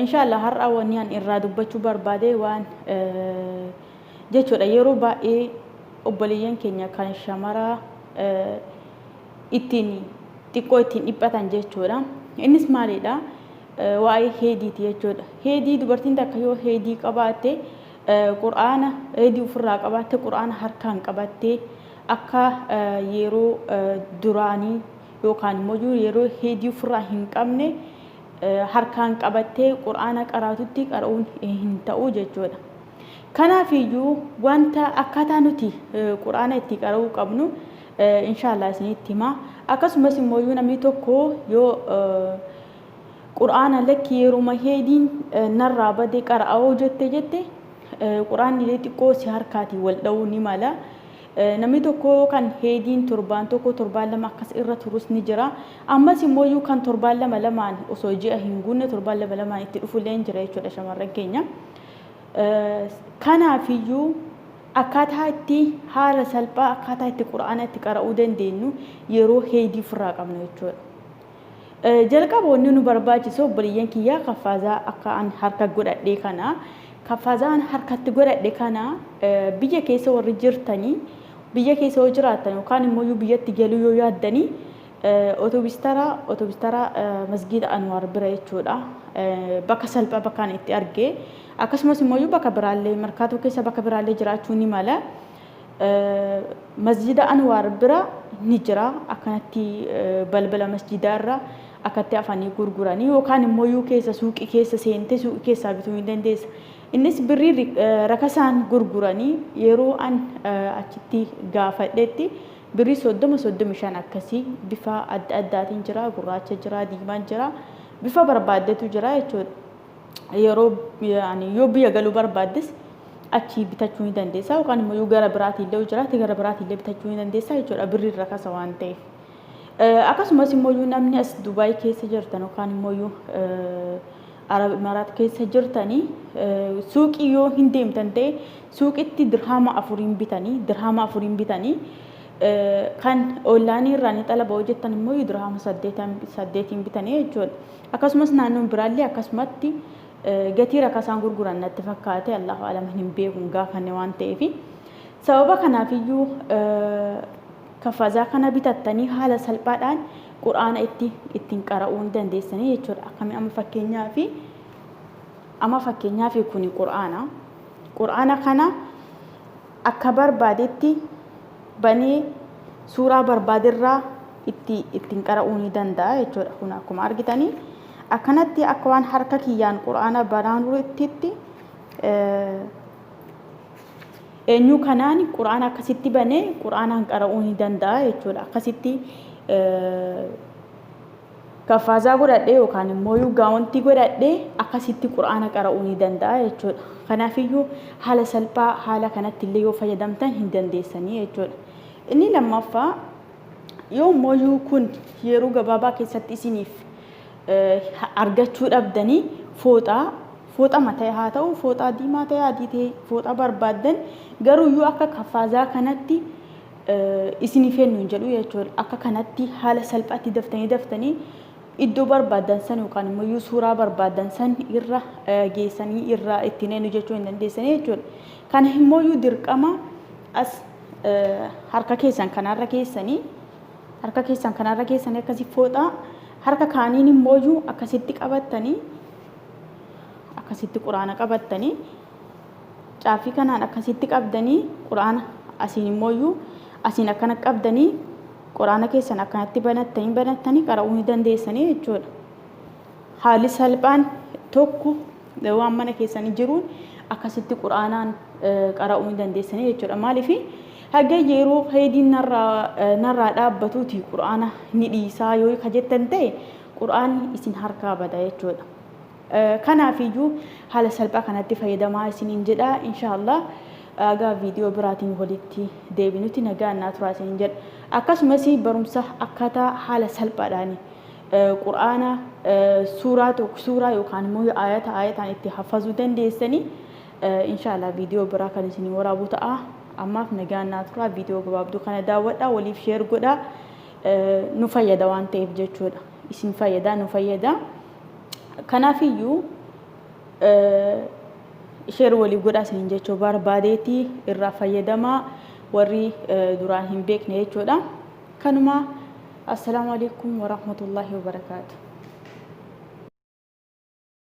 Inshallah har'a wani an irraa dubbachu barbaade waan jechuudha yeroo baay'ee obboleeyyan keenya kan shamaraa ittiin xiqqoo ittiin dhiphatan jechuudha. Innis maalidha? Waa'ee heediiti jechuudha. Heedii dubartiin takka yoo heedii qabaatte qur'aana heedii ofirraa qabaatte qur'aana harkaan qabattee akka yeroo duraanii yookaan immoo yeroo heedii ofirraa hin qabne harkaan qabattee qur'aana qaraatutti qara'uun hin ta'u jechuudha. Kanaafiyyuu wanta akkaataa nuti qur'aana itti qara'uu qabnu inshaallah isinitti hima. Akkasumas immoo yoo namni tokko yoo qur'aana lakki yeruma heediin narraa bade qara'oo jette jette qur'aanni xiqqoo si harkaatiin wal dha'uu ni mala. Namni tokko kan heediin torbaan tokko, torbaan lama akkas irra turus ni jira. Ammas immooyyuu kan torbaan lama lamaan osoo ji'a hin guunne torbaan lama lamaan itti dhufullee ni jira jechuudha shamarran keenya. Kanaafiyyuu akkaataa itti haala salphaa akkaataa itti qura'aana itti qara'uu dandeenyu yeroo heedii ofirraa qabna jechuudha. Jalqaba wanni nu barbaachisu obboleeyyan kiyyaa kaffaazaa akka an harka godhadhee kana kaffaazaa an harkatti godhadhe kana biyya keessa warri jirtanii biyya keessa yoo jiraattan yookaan immoo yoo biyyatti galuu yoo yaaddanii otobistara otobistara masgiida anwaar bira jechuudha bakka salphaa bakka an itti arge akkasumas immoo yoo bakka biraallee markaatoo keessa bakka biraallee jiraachuu ni mala Masjida Anwaar bira ni jira akkanatti balbala masjidaa irra akkatti afanii gurguranii yookaan immoo yuu keessa suuqii keessa seentee suuqii keessaa bituu hin dandeessa. Innis birrii ri- eh, rakasaan gurguranii yeroo an eh, achitti gaafadhetti birrii soddoma soddomi shan akkasii bifa adda addaatiin jira gurraacha jira diimaan jira bifa barbaaddetu jira jechuudha. yeroo yaani yoo biyya galuu barbaaddes achii bitachuu ni dandeessa yookaan immoo yoo gara biraatii illee jiraate gara biraatii illee bitachuu ni dandeessa jechuudha birri irra kasa waan ta'eef. Akkasumas immoo yoo namni as Dubaay keessa jirtan yookaan immoo yoo Arab Imaraat keessa jirtanii suuqii yoo hin deemtan ta'e suuqitti dirhaama afuriin bitanii dirhaama afuriin bitanii kan oonlaayinii irraa ni xalaba hojjettan immoo dirhaama saddeetiin bitanii jechuudha. Akkasumas naannoon biraallee akkasumatti gatii rakasaan gurguran natti fakkaate Allahu a'lam hin beeku hin gaafanne waan ta'eef. Sababa kanaafiyyuu kafazaa kana bitattanii haala salphaadhaan qur'aana itti ittiin qara'uu ni dandeessanii jechuudha. Akkami amma fakkeenyaa fi amma fakkeenyaa fi kuni qur'aana. Qur'aana kana akka barbaadetti banee suuraa barbaaderraa itti ittiin qara'uu ni danda'a jechuudha. Kun akkuma argitanii akkanatti akka waan harka kiyyaan quraana banaanurttitti eenyu kanaan quraana akkasitti banee quraanaan qara'uu ni danda'a jechuudha. Akkasitti Kaffaazaa godhadhee yookaan immooyuu gaawontii godhadhee akkasitti qur'aana qara'uu ni danda'a jechuudha. Kanaafiyyuu haala salphaa haala kanatti illee yoo fayyadamtan hin dandeessanii jechuudha. Inni lammaffaa yoo immooyuu kun yeroo gabaabaa keessatti isiniif argachuu dhabdanii fooxaa fooxa mataa haa ta'u fooxaa diimaa ta'e adii ta'e fooxaa barbaaddan garuuyyuu akka kaffaazaa kanatti isinii fennu hin jedhu jechuudha. Akka kanatti haala salphaatti daftanii daftanii iddoo barbaaddan san yookaan immoo iyyuu suuraa barbaaddan san irra geessanii irraa ittiin eenyu jechuu hin dandeessanii jechuudha. Kana immoo iyyuu dirqama as harka keessan kanarra keessanii harka keessan kanarra keessanii akkasi fooxaa harka kaaniin immoo iyyuu akkasitti qabattanii akkasitti quraana qabattanii Caaffii kanaan akkasitti qabdanii qur'aana asiin immooyyuu asiin akkana qabdanii qur'aana keessan akkanatti banattanii banattanii qara'uu ni dandeessanii jechuudha. Haalli salphaan tokko waan mana keessanii jiruun akkasitti qur'aanaan qara'uu ni dandeessanii jechuudha. Maaliif haga yeroo faydiin narraa dhaabbatuuti qur'aana ni dhiisaa yoo ka jettan ta'e qur'aanni isin harkaa bada jechuudha. Kanaafiyyuu haala salphaa kanatti fayyadamaa isiniin jedha. Inshaallah haga viidiyoo biraatiin walitti deebinutti nagaan naa turaa isiniin jedha. Akkasumas barumsa akkaataa haala salphaadhaan Qur'aana suuraa tokko suuraa yookaan immoo ayata ayataan itti hafazuu dandeessanii inshaallah viidiyoo biraa kan isinii waraabuu ta'a. Ammaaf nagaan naa turaa viidiyoo gabaabduu kana daawwadhaa waliif sheer godhaa nu fayyada waan ta'eef jechuudha. Isin fayyada nu fayyada. Kanaafiyyuu sheer waliif godhaa isiniin jechuu barbaadeeti irraa fayyadamaa warri duraan hin beekne jechuudha. Kanuma assalaamu alaikum warahmatullaahi wabarakaatu.